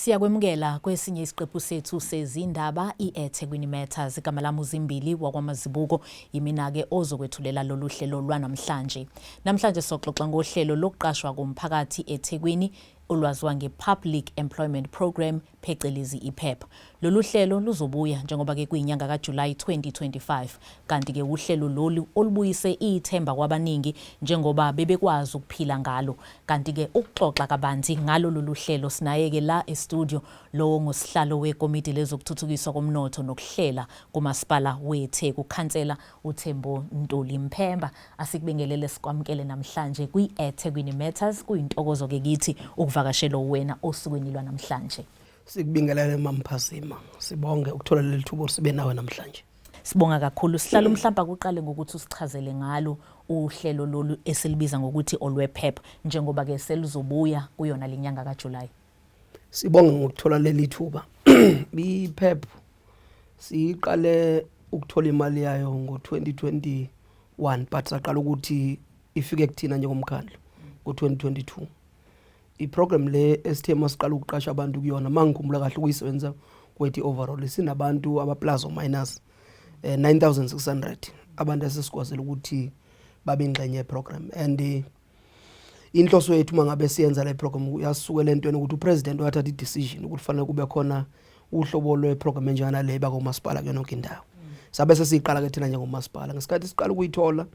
Siyakwemukela kwesinye isiqephu sethu sezindaba i-eThekwini Matters. Igama lami uZimbili wakwamazibuko yimina-ke ozokwethulela lolu hlelo lwanamhlanje. Namhlanje soxoxa ngohlelo lokuqashwa komphakathi eThekwini olwaziwa nge-Public Employment Programme, phecelezi i-PEP. Lolu hlelo luzobuya njengoba ke kuyinyanga kaJulayi 2025 kanti ke wuhlelo lolu olubuyise ithemba kwabaningi njengoba bebekwazi ukuphila ngalo. Kanti ke ukuxoxa kabanzi ngalo lolu hlelo sinaye ke la e-studio lowo ngusihlalo wekomidi lezokuthuthukiswa komnotho nokuhlela kuMasipala weTheku, Khansela uThembo Ntuli Mphemba asikubingelele sikwamukele namhlanje kwi-eThekwini Matters kuyintokozo-ke kithi ukuvakashela uwena osukwini lwanamhlanje sikubingelele mamphazima sibonge ukuthola leli thubo sibe nawe namhlanje sibonga kakhulu sihlala umhlawumbe akuqale ngokuthi usichazele ngalo uhlelo lolu esilibiza ngokuthi olwephepha njengoba-ke selizobuya kuyona le nyanga kajulayi Sibonge ngokuthola leli thuba. IPEP siyiqale ukuthola imali yayo ngo-2021 but saqala ukuthi ifike kuthina njengomkhandlu ngo-2022. I-program le esithe masiqala ukuqasha abantu kuyona mangikhumbula kahle ukuyisebenzisa kwethu overall sinabantu abaplus or minus eh, 9600 abantu esesikwazile ukuthi babe ingxenye yeprogram and eh, inhloso yethu uma ngabe siyenza le program uyasukela entweni ukuthi upresident wathatha i-decision ukuthi fanele kube khona uhlobo lweprogram enjengana le bakomasipala kuyona yonke indawo sabe sesiyiqala ke thina njengomasipala ngesikhathi siqala ukuyithola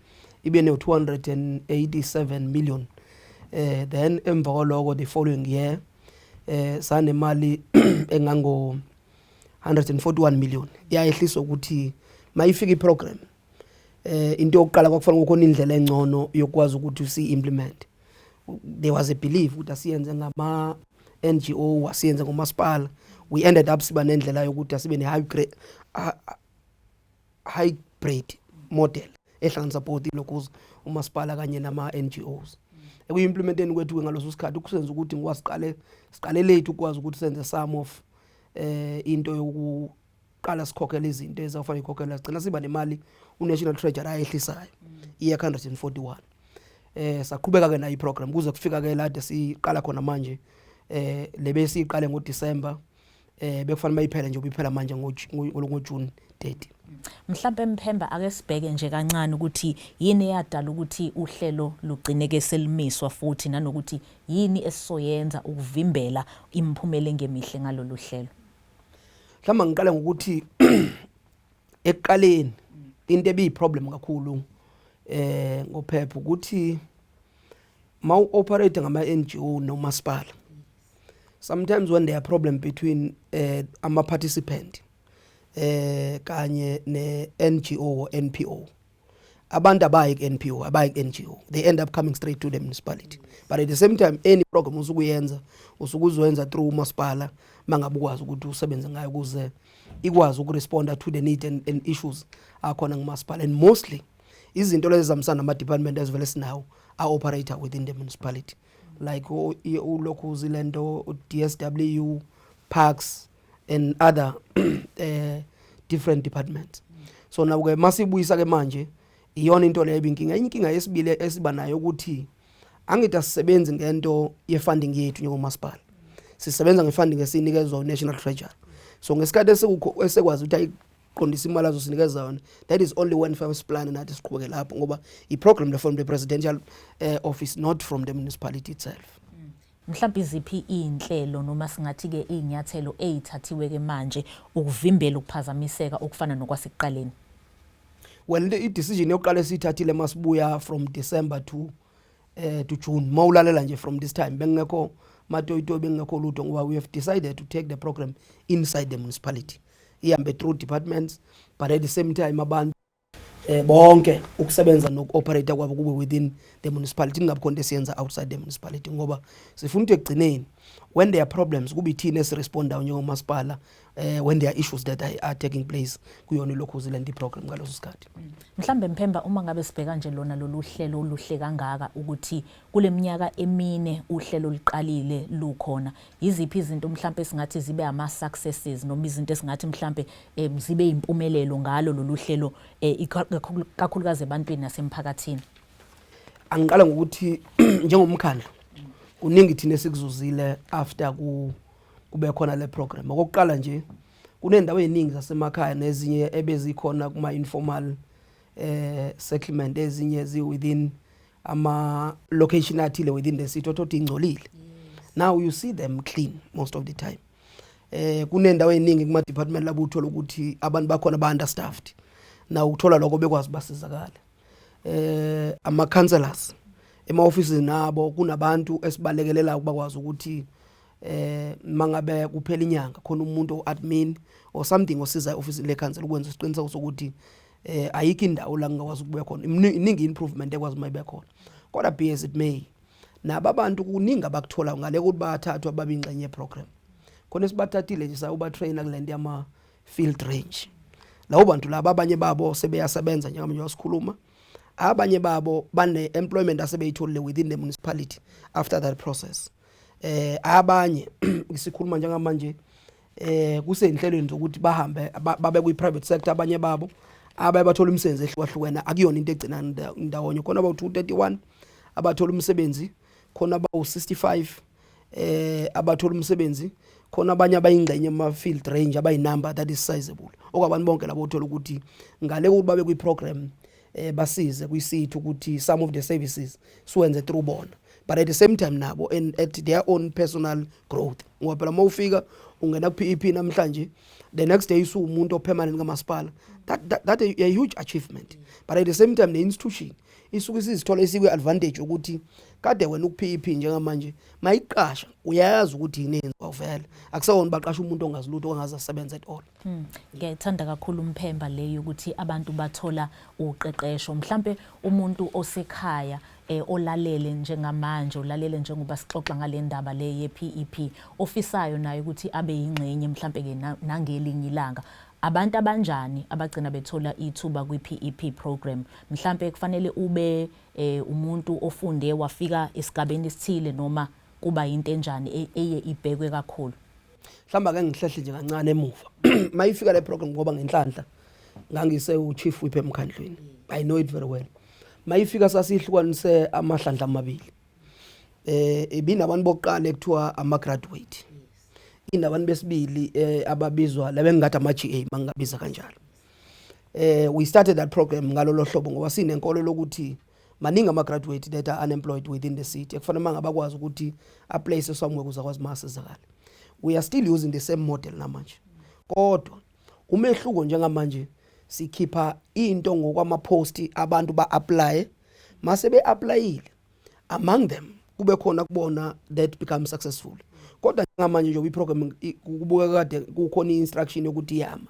ibe ne-287 million eh then emva kwaloko the following year eh sanemali engango 141 million yayehliswa ukuthi mayifika iprogram eh into yokuqala kwakufanele kukhona indlela engcono yokwazi ukuthi usi implement there was a belief ukuthi asiyenze ngama NGO asiyenze ngomasipala we ended up siba nendlela yokuthi asibe ne hybrid hybrid model ehlanganisa both ilokuza umasipala kanye nama NGOs ekuyimplementeni kwethu ngaloso sikhathi ukusenza ukuthi ngiwasiqale siqale late ukwazi ukuthi senze some of eh into yoku qala sikhokhela izinto ezafanele ikhokhela sigcina siba nemali uNational Treasury ayehlisayo iye 141 eh saqhubeka ke nayo iprogram kuze kufika ke lade siqala khona manje eh lebe siqale ngo December eh bekufanele bayiphele nje ubiphela manje ngo ngo June 30 mhlawumbe emphemba ake sibheke nje kancane ukuthi yini eyadala ukuthi uhlelo lugcineke selimiswa futhi nanokuthi yini esisoyenza ukuvimbela imphumela engemihle ngalolu hlelo mhlawumbe ngiqale ngokuthi ekuqaleni into ebiyiproblem kakhulu eh ngophepha ukuthi ma uoperate ngama NGO nomasipala sometimes when there are problem between eh ama participant eh kanye ne NGO or NPO abantu abayi ku-npo abayi ku-ngo they end up coming straight to the municipality but at the same time any program usukuyenza usuke uzoyenza through umasipala uma ngabe ukwazi ukuthi usebenze ngayo ukuze ikwazi ukuresponda to the need and, and issues akhona ngumasipala and mostly izinto lezi zihambisana nama-department ezivele sinawo a-operator within the municipality like ulokhu zile nto u-d s w parks and other eh different departments so naku ke masibuyisa ke manje iyona into leyo inkinga inkinga yesibili esiba nayo ukuthi angithi asisebenzi ngento yefunding yethu njengomasipala sisebenza ngefunding esinikezwa uNational Treasury so ngesikhathi esikukho esekwazi ukuthi ayiqondisa imali azosinikeza yona that is only one first plan nathi siqhubeke lapho ngoba i program le from the presidential uh, office not from the municipality itself Mhlawumbe iziphi izinhlelo noma singathi ke izinyathelo ezithathiwe ke manje ukuvimbela ukuphazamiseka okufana nokwasekuqaleni? Well i decision yokuqala esithathile masibuya from December to eh to June mawulalela nje from this time bengekho matoyitoyi bengekho lutho ngoba we have decided to take the program inside the municipality ihambe through departments but at the same time abantu eh bonke ukusebenza nokuoperate kwabo kube within the municipality kungabi khona esiyenza outside the municipality ngoba sifuna ukuthi ekugcineni when there are problems kube ithina esiresponda njengomasipala eh when there are issues that are taking place kuyona lokhu zilanda iprogram ngaloso sikhathi mhlambe mphemba uma ngabe sibheka nje lona lolu hlelo oluhle kangaka ukuthi Kule minyaka emine uhlelo oluqalile lukhona, yiziphi izinto mhlampe esingathi zibe ama-successes noma izinto esingathi mhlampe um zibe yimpumelelo ngalo lolu hlelo um kakhulukazi ebantwini nasemphakathini? Angiqala ngokuthi njengomkhandlu kuningi thina esikuzuzile after ku kube khona le program. Okokuqala nje kunendawo eziningi zasemakhaya nezinye ebezikhona kuma informal eh settlement ezinye zi within ama location athile within the city othothi ingcolile now you see them clean most of the time eh kunendawo eningi kuma department labo uthola ukuthi abantu bakhona ba understaffed na ukuthola lokho bekwazi basizakala eh ama counselors ema offices nabo kunabantu esibalekelela ukubakwazi ukuthi eh mangabe kuphela inyanga khona umuntu oadmin or something osiza office le council ukwenza isiqiniseko sokuthi eh ayikho indawo la ngingakwazi ukubuya khona iningi improvement ekwazi uma ibe khona kodwa be as it may nabo abantu kuningi abakuthola ngale ukuthi bathathwa babingxenye program khona sibathathile nje sawuba trainer kulento yama field range lawo bantu laba abanye babo sebeyasebenza njengamanje wasikhuluma abanye babo bane employment asebeyitholile within the municipality after that process eh abanye sikhuluma njengamanje eh kusezinhlelweni zokuthi bahambe babe kwi private sector abanye babo abaye bathola umsebenzi ehlukahlukene akuyona into egcina ndawonye khona abawu 231 abathola umsebenzi khona abawu 65 eh abathola umsebenzi khona abanye abayingxenye ama field range abayi number that is sizable okwabantu bonke labo uthola ukuthi ngale ukuthi babe kwi program eh basize kuyisithu ukuthi some of the services siwenze through bona but at the same time nabo and at their own personal growth ngoba phela uma ufika ungena ku PEP namhlanje the next day isu umuntu opermanent kamasipala that, that that a, a huge achievement but at the same time ne institution isuke isizithola isikwe advantage ukuthi kade wena uku PEP njengamanje mayiqasha uyayazi ukuthi yini yenziwa vele akusewona baqasha umuntu ongazi lutho ongazi asebenza at all Hmm. Ngiyayithanda kakhulu umphemba le yokuthi abantu bathola uqeqesho mhlampe umuntu osekhaya eh, olalele njengamanje olalele njengoba sixoxa ngale ndaba le ye-PEP e ofisayo naye ukuthi abe yingxenye mhlampe-ke nangelinye ilanga abantu abanjani abagcina bethola ithuba kwi-PEP e program mhlampe kufanele ube eh, umuntu ofunde wafika esigabeni esithile noma kuba yinto enjani e-, eye ibhekwe kakhulu mhlawumbe ake ngihlehle nje kancane emuva uma ifika le program ngoba ngenhlanhla ngangise uchief whip emkhandlwini i know it very well uma ifika sasihlukanise amahlandla amabili eh ibinabantu bokuqala ekuthiwa ama graduate inabantu besibili eh ababizwa labengathi ama GA mangabiza kanjalo eh we started that program ngalolo hlobo ngoba sinenkolo lokuthi maningi ama-graduate that are unemployed within the city ekufanele uma ngabakwazi ukuthi aplace somewhere kuze akwazi uma asizakale we are still using the same model namanje kodwa umehluko njengamanje sikhipha into ngokwama-post abantu ba-aplaye mase be-aplayile among them kube khona kubona that become successful kodwa njengamanje nje kwiprogram kubukeka kade kukhona i-instruction yokuthi yama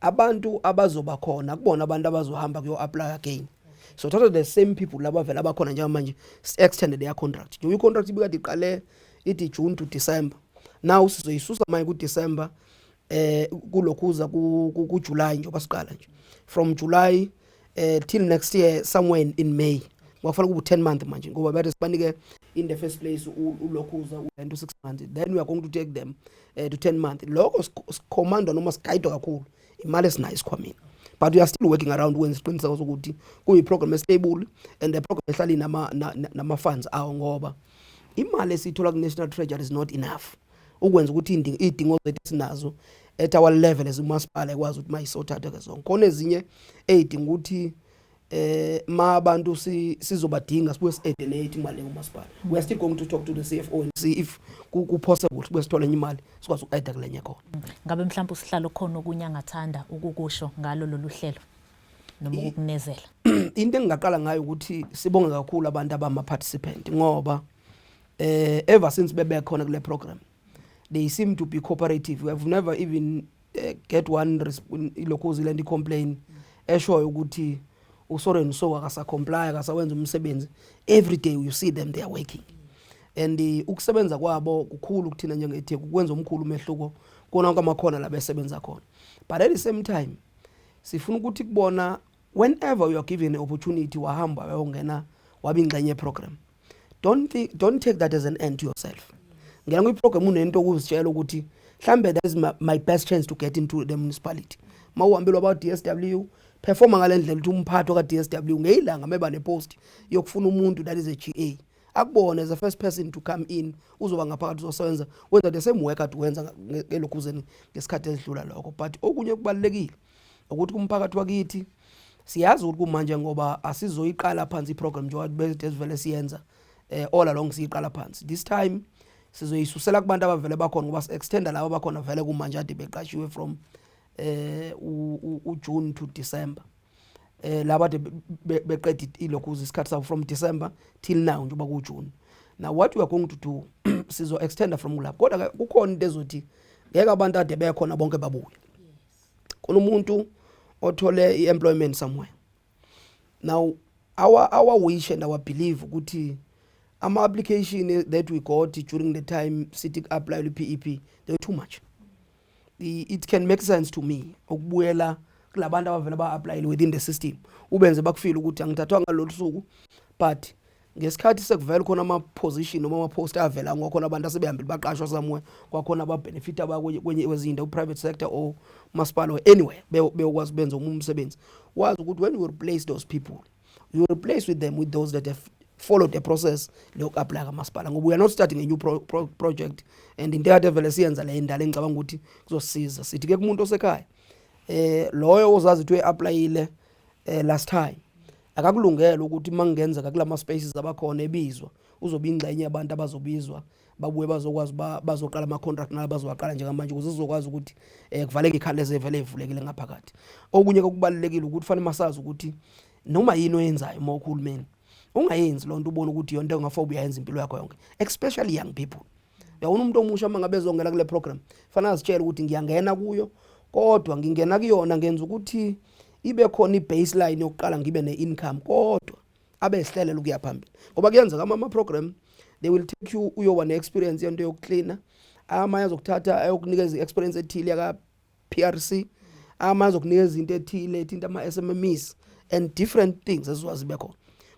abantu abazoba khona kubona abantu abazohamba kuyo apply again so thatha the same people laba vela abakhona njengamanje extended their contract njengoba i-contract ibikade iqale ithi june to december now sizoyisusa manje kudecember eh kulokhuza kujuly njengoba siqala nje from july eh till next year somewhere in May wafuna kubu 10 month manje ngoba bathi sibanike in the first place ulokhuza ulento 6 months then we are going to take them uh, to 10 month lokho sikhomandwa noma sigayidwa kakhulu imali esinayo isikhwameni but we are still working around when siqiniseka ukuthi kuyi program stable and the program ehlali nama nama funds awo ngoba imali esithola ku national treasury is not enough ukwenza ukuthi iy'dingo zethu esinazo at our level as umasipala ekwazi ukuthi mayisothathe ke zonke khona ezinye ey'dinga ukuthi eh ma abantu sizobadinga sibuye si-edenate imali umasipala we are still going to talk to the CFO and see if kupossible ukuthi besithole enye imali sikwazi uku-aida kulenye khona mm. ngabe mhlawumbe usihlalo khona okunye angathanda ukukusho ngalo lolu hlelo noma ukukunezela into engingaqala ngayo ukuthi sibonge kakhulu abantu abama-participant ngoba eh ever since bebe khona kule program they seem to be cooperative we have never even uh, get one ilokuzi le complain eshoyo ukuthi uSoren so akasacomply akasawenza umsebenzi every day you see them they are working and eh, ukusebenza kwabo kukhulu kuthina njengetheku kwenza omkhulu umehluko kona kwamakhona labesebenza khona but at the same time sifuna ukuthi kubona whenever you are given an opportunity wahamba wayongena wabingxenye program don't think, don't take that as an end to yourself ngena kwiprogram unento okuzitshela ukuthi mhlambe that is my, my best chance to get into the municipality ma uhambelwa ba DSW performa ngale ndlela ukuthi umphathi ka DSW ngeyilanga meba nepost yokufuna umuntu that is a GA akubone as a first person to come in uzoba ngaphakathi uzosebenza wenza the same work ade wenza ngelokhuzeni ngesikhathi esidlula lokho but okunye kubalekile ukuthi kumphakathi wakithi siyazi ukuthi kumanje ngoba asizoyiqala phansi iprogram njengoba bese sivele siyenza eh all along siyiqala phansi this time sizoyisusela kubantu abavele bakhona ngoba si-extenda labo bakhona vele kumanje ade beqashiwe from eh uJune to December eh laba de beqeda ilokhuza isikhathi sabo from December till now njengoba kuJune now what we are going to do sizo extender from kulapho kodwa kukhona into ezothi ngeke abantu ade bekhona bonke babuye khona umuntu othole i-employment somewhere now our, our wish and our belief ukuthi ama-application that we got during the time sithi ku-apply lwe-pep they were too much it can make sense to me ukubuyela kulabantu abavele ba-aplayile within the system ubenze bakufile ukuthi angithathwa ngalolu suku but ngesikhathi sekuvela khona ama-position noma ama-post avela ngokhona abantu asebehambile baqashwa somewhere kwakhona ababenefit abakwenye kwezinye indawo private sector or masipala or anywhere beyokwazi benza omunye umsebenzi wazi ukuthi when you replace those people you replace with them with those that have followed the process lokuapply kamasipala ngoba we are not starting a new pro, pro, project and into ekade vele siyenza le indala engicabanga ukuthi kuzosiza sithi ke kumuntu osekhaya eh loyo ozazi ukuthi uyapplyile eh last time akakulungele ukuthi uma kungenzeka kula ma-spaces abakhona ebizwa uzobe ingxenye yabantu abazobizwa babuye bazokwazi bazoqala ama-contract nala bazowaqala njengamanje ukuze sizokwazi ukuthi um kuvaleke ikhala ezevele evulekile ngaphakathi okunye kokubalulekile ukuthi fanele masazi ukuthi noma yini oyenzayo uma uhulumeni ungayenzi loo nto ubone ukuthi yonto engafobe uyayenza impilo yakho yonke especially young people yawona umuntu omusha uma ngabe ezongena kule program fanele azitshele ukuthi ngiyangena kuyo kodwa ngingena kuyona ngenza ukuthi ibe khona i-baseline yokuqala ngibe ne-income kodwa abe esihlelele ukuya phambili ngoba kuyenzeka ama-program they will take you uyoba ne-experience yento yokuklina amanye azokuthatha ayokunikeza i-experience ethile PRC amazi okunikeza into ethile ethinta ama SMMEs and different things eziwazi bekhona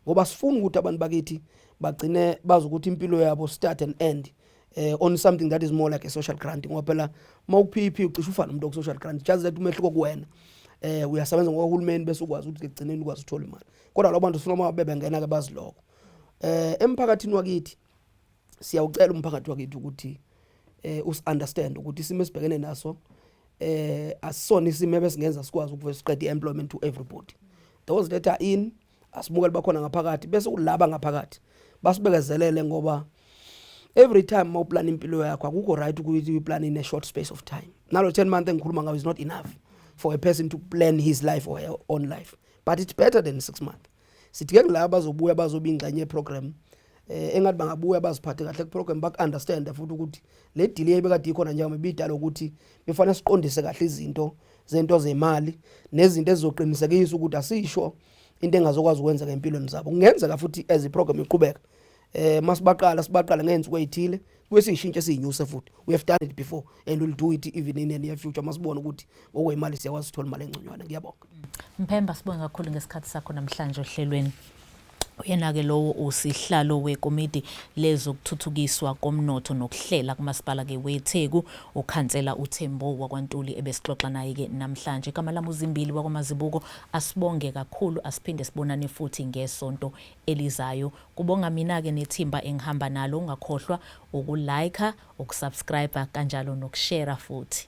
ngoba sifuna ukuthi abantu bakithi bagcine bazi ukuthi impilo yabo start and end eh on something that is more like a social grant ngoba phela mawuphiphi ucisha ufana umuntu oku social grant just that umehluko kuwena eh uyasebenza ngohulumeni bese ukwazi ukuthi kugcineni ukwazi uthola imali kodwa labo bantu sifuna uma bebengena ke baziloko eh emphakathini wakithi siyawucela umphakathi wakithi ukuthi eh us understand ukuthi isimo esibhekene naso eh asisona isimo ebesingenza sikwazi ukuvela siqede employment to everybody those that are in asimukele bakhona ngaphakathi bese ulaba ngaphakathi basibekezelele ngoba every time mawuplan impilo yakho akukho right ukuthi uplan in a short space of time nalo 10 month engikhuluma ngawo is not enough for a person to plan his life or her own life but it's better than 6 months sidinga kulabo abazobuya bazoba ingxenye yeprogram eh engathi bangabuya baziphathe kahle kuprogram baku understand futhi ukuthi le delay ebekade ikhona njengoba ibidala ukuthi befanele siqondise kahle izinto zento zemali nezinto ezizoqinisekisa ukuthi asisho into engazokwazi ukwenza ngempilweni zabo kungenzeka futhi as iprogram iqhubeka eh masibaqala sibaqala ngenzuko ezithile kwesishintshe siyinyuse futhi we have done it before and we'll do it even in the near future masibona ukuthi ngokwemali siyakwazi uthola imali engconywana ngiyabonga Mphemba sibonga kakhulu ngesikhathi sakho namhlanje ohlelweni Uyena-ke lowo usihlalo wekomidi lezokuthuthukiswa komnotho nokuhlela kumasipala-ke weTheku, ukhansela uThembo wakwaNtuli ebesixoxa naye-ke namhlanje. Igama lami uZimbili wakwaMazibuko. Asibonge kakhulu, asiphinde sibonane futhi ngesonto elizayo. Kubonga mina ke nethimba engihamba nalo ungakhohlwa uku like, uku subscriber kanjalo noku share futhi.